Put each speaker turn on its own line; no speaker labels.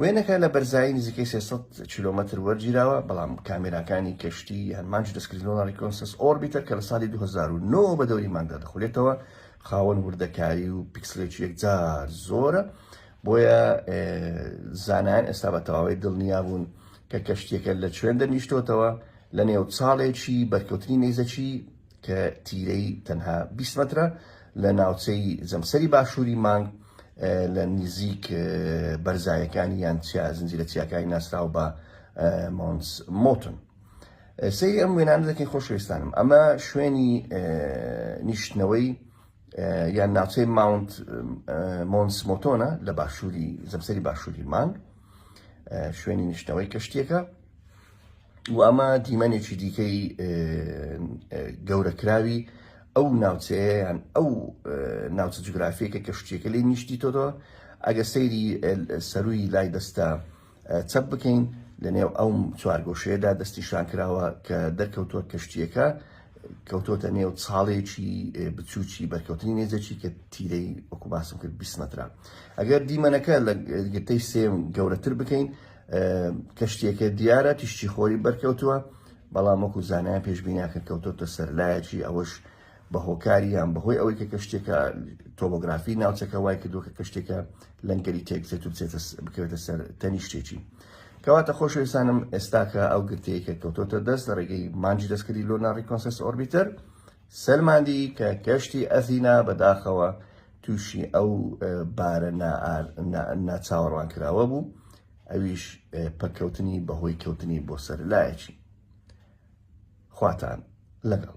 وێنەکە لە بەرزایی نزیکەی 300 کیلۆمەتر وەرگیراوە بەڵام کامێراکانی کەشتی یان مانج دەستکردنەوە ڕیکۆنسس ئۆربیتەر کە لە ساڵی 2009 بە دەوری مانگدا دەخولێتەوە خاوەن وردەکاری و پیکسلێکی یەکجار زۆرە بۆیە زانایان ئێستا بە تەواوی دڵنیا بوون کە کەشتیەکە لە چوێن دەنیشتۆتەوە لە نێو چاڵێکی بەرکەوتنی نەیزەکی کە تیرەی تەنها بیست مەترە لە ناوچەی جەمسەری باشووری مانگ لە نیزیک بەرزایەکانی یان چیا زنجیرە چیاکانی ناسراو بە مۆنس مۆتن سەیری ئەم وێنانە دەکەین خۆشویستانم ئەمە شوێنی نیشتنەوەی یان ناوچەی ماونت مۆنس مۆتۆنە لە باشووری زەمسەری باشووری مانگ شوێنی نیشتنەوەی کەشتیەکە و ئەمە دیمەنێکی دیکەی گەورەکراوی ئەو ناوچەیەیان ئەو ناوچە جوگرافیەکە کە شتێکە لێ نیشتی تۆدۆ ئەگە سەیری سەروی لای دەستە چەپ بکەین لەنێو ئەو چوارگۆشەیەدا دەستی شانکراوە کە دەرکەوتووە کەشتیەکە کەوتۆتە نێو چاڵێکی بچووکی بەرکەوتنی نێزەکی کە تیرەی وەکو باسم کرد 20 مترە ئەگەر دیمەنەکە لە گرتەی سێم گەورەتر بکەین کەشتیەکە دیارە تیشتی خۆری بەرکەوتووە بەڵام وەکو زانایان پێشبینیاکە کەوتۆتە سەرلایەکی ئەوەش بە هۆکاری یان بەهۆی ئەوەی کە کەشتێکە تۆبگرافی ناوچەکە وای کردو کە کەشتێکە لەنگەری تێکچێت و بچێتە بکەوێتە سەر تەنیشتێکی کەواتە خۆشەویستانم ئێستاکە ئەو گرتەیە کەوتۆتە دەست لە ڕێگەی مانجی دەستکردی لۆ ناڕی کۆنسس ئۆربیتەر سەلماندی کە گەشتی ئەثینا بەداخەوە تووشی ئەو بارە ناچاوەڕوانکراوە بوو، ئەویش پەککەوتنی بەهۆی کەوتنی بۆ سەر لایەکی. خواتان لەگەڵ.